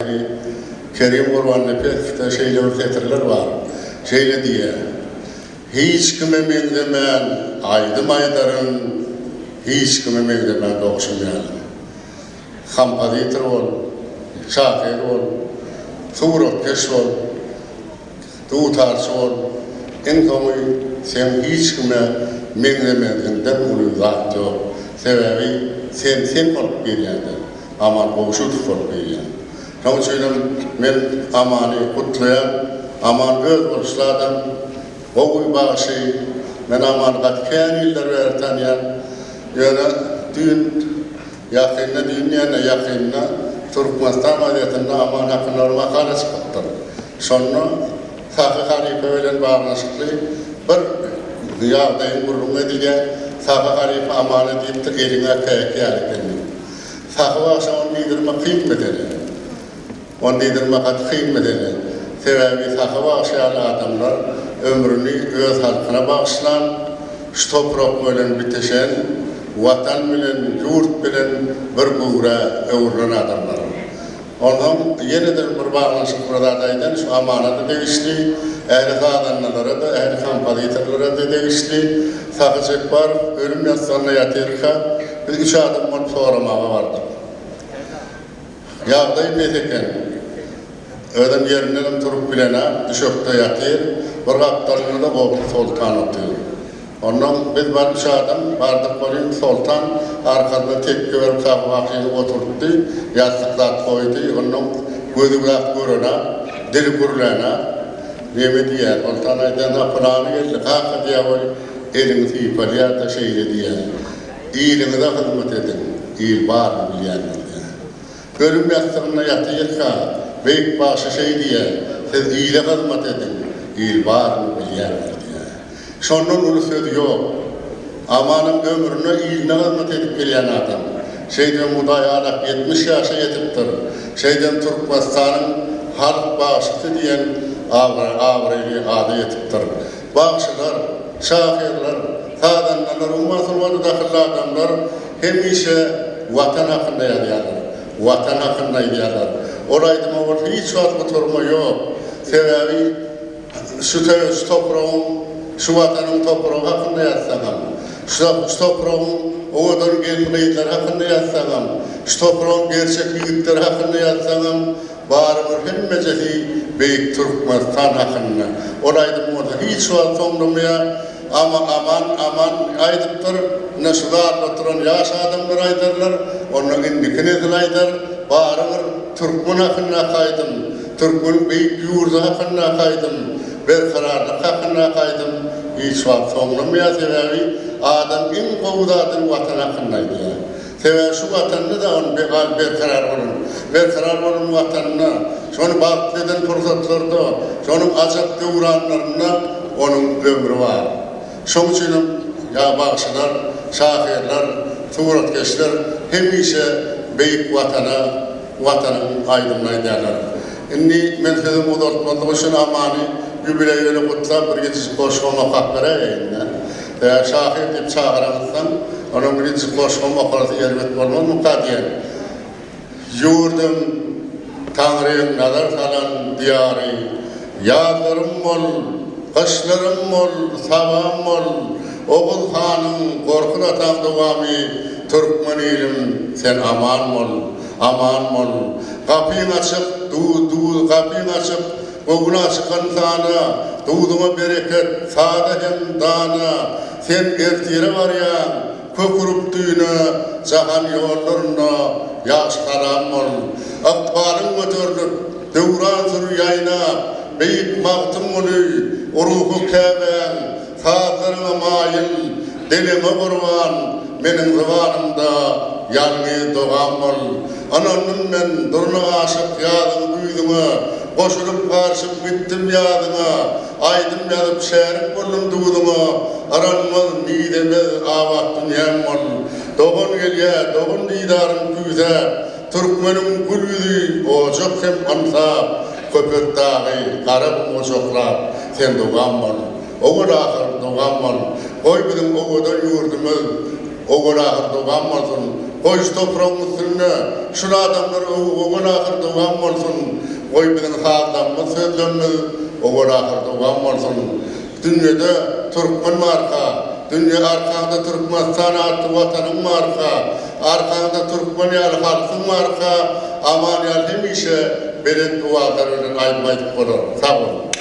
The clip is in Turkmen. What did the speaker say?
Şahyr Kerim Gurbannepesowyda şeýle bir setirler bar, şeýle diýýär, Hiç kime meňzemän aýdym aýdaryn, hiç kime meňzemän dogşum ýaly. Kompozitor bol, şahyr bol, suratkeş bol. Dutarçy bol, iň soňy sen hiç kime meňzemeziňden uly zat ýok, sebäbi sen sen bolup gelýäňdä, Aman Gowşutow bolup gelýäň. Şoň üçinem men Amany gutlaýan, Aman öz boluşly adam, gowy bagşy, men Amany gaty kän ýyllar bäri tanýan, ýöne düýn Ýakynda diýilýände ýakynda Türkmenistan gazetinde Aman Akynlara makala çykypdyr. Şonda Sahy halypa bilen baglanyşykly bir ýagdaýyň gürrüň edilýär, Sahy halypa Amana diýipdir, Eliň äpeýek ýaly ekeni. Sahy bagşa ony diýdirmek kyn mesele. Ony diýdirmek gaty kyn mesele. Sebäbi Sahy bagşy ýaly adamlar ömrüni öz halkyna bagyşlan, şu toprak bilen bitişen, Watan bilen, ýurt bilen bir göwrä öwrülen adamlar. Onsoň ýene-de bir baglanyşykly bir zat aýdan, şu amanat-a degişli, ähli sazandalara-da, ähli kompozitorlara-da degişli. Sahy Jepbarow ölüm ýassygyna ýatyrka, biz üç adam bolup soramaga bardyk. Ýagdaý mes eken. Özem ýerinden turup bilenak, düşekde ýatyr. Bir gapdalynda-da Gowşut soltan otyr. Onnoň biz bar üç adam bardyk welin, soltan arkasyna tekge berip Sahybakyny oturtdy, ýassyk zat goýdy. Onnoň gözi gülap görenak, dili gürlänak. Neme diýýär? Soltan aýdýar, Na pylany geldi, kaka diýýär we elini sypalýar-da, şeýle diýýär, Iliňize hyzmat ediň, il baryny bilýändiňde. Ölüm ýassygynda ýatyjyka, beýik bagşy şeý diýýär, Siz ile hyzmat ediň, il baryny bilýändir diýýär. Şondan uly söz ýok. Amanam ömrüne iline hyzmat edip gelýän adam. Şeýdibem Hudaý alap ýetmiş ýaşa ýetipdir. Şeýdibem Türkmenistanyň halk bagşysy diýen abraýly ada ýetipdir. Bagşylar, şahyrlar, sazandalar, umuman sungaty dahylly adamlar hemişe Watan hakynda ýazýarlar, Watan hakynda aýdýarlar. Ol aýdyma bolsa hiç wagt gutarma ýok. Sebäbi şu şu topragyň, şu Watanyň topragy hakynda ýazsaňam, şu şu topragyň owadan gelin-gyzlary hakynda ýazsaňam, şu topragyň gerçek ýigitleri hakynda ýazsaňam, Bary bir hemmejesi beýik Türkmenistan hakynda. Ol aýdym bolsa hiç wagt soňlamaýar. Ama aman aman aýdypdyr. Ine şu zalda oturan ýaş adamlar aýdarlar. Onda indiki nesil aýdar. Bary bir türkmen hakyndaky aýdym. Türkmeniň beýik ýurdy hakyndaky aýdym. Berkararlyk hakyndaky aýdym hiç wagt soňlamaýar. Sebäbi adam iň gowy zadyny watan hakynda aýdýar. Sebäbi şu Watanda dagyň be-gal berkarar bolan, berkarar bolan Watanda, şony bagtly eden pursatlarda, şonuň ajap döwranlarynda onuň ömri bar. Şoň üçin hem ýa bagşylar, şahyrlar, suratkeşler hemişe beýik Watana, Watanyň aýdymyny aýdýarlar. Indi men sözümi uzaltmazlyk üçin Amany ýubileý bilen gutlap, bir ýiti goşgam okap beräýeýin-dä. Tä şahyr diýip çagyranyzsoň, onuň birinji goşgym okarysy erbet bolmazmyka diýen. Ýurdum, Taňryň nazar salan diýary, Ýazlarym bol, gyşlarym bol, sabam bol, Oguz hanyň, Gorkut ataň dowamy, Türkmen ilim, sen aman bol, aman bol, Gapyň açyk, du-du, gapyň açyk, Gowla çykan sana, Duduna bereket, sada hem dana, Sen ertire barýaň, kök urup düýne, Jahan ýollarynda ýagşy-salam bol. Ykbalyň göterilip, döwran sür ýaýnap, Beýik Magtymguly, ruhy Käbäň, Sazlaryňa maýyl, diliňe gurban, Meniň zybanymda ýalňy dogam bol. Ynandym men durna aşyk ýazyň güýzüňe, Goşulyp garşyp gitdim ýazyňa, Aýdym ýazyp şärik boldum duzuňa. Yranmaz, mizemez abat dünýäm bol. Dogan gelýä, dogan didaryn küýsäp, Türkmeniň gül ýüzi ojak hem ynsap, Köpetdagy gara gum gujaklap, Sen dogam bol. Owal-ahyr dogam bol, goý biziň owadan ýurdumyz Owal-ahyr dogam bolsun, goý şu topragyň üstünde Şul adamlar Owal-ahyr dogam bolsun, goý biziň sazlarymyz sözlerimiz Owal-ahyr dogam bolsun, Dünýede türkmen barka, dünýe arkaňda Türkmenistan atly Watanyň barka, Arkaňda türkmen ýaly halkyň barka Aman ýaly hemişe belent owaza bilen aýdym aýdyp bolar. Sag boluň.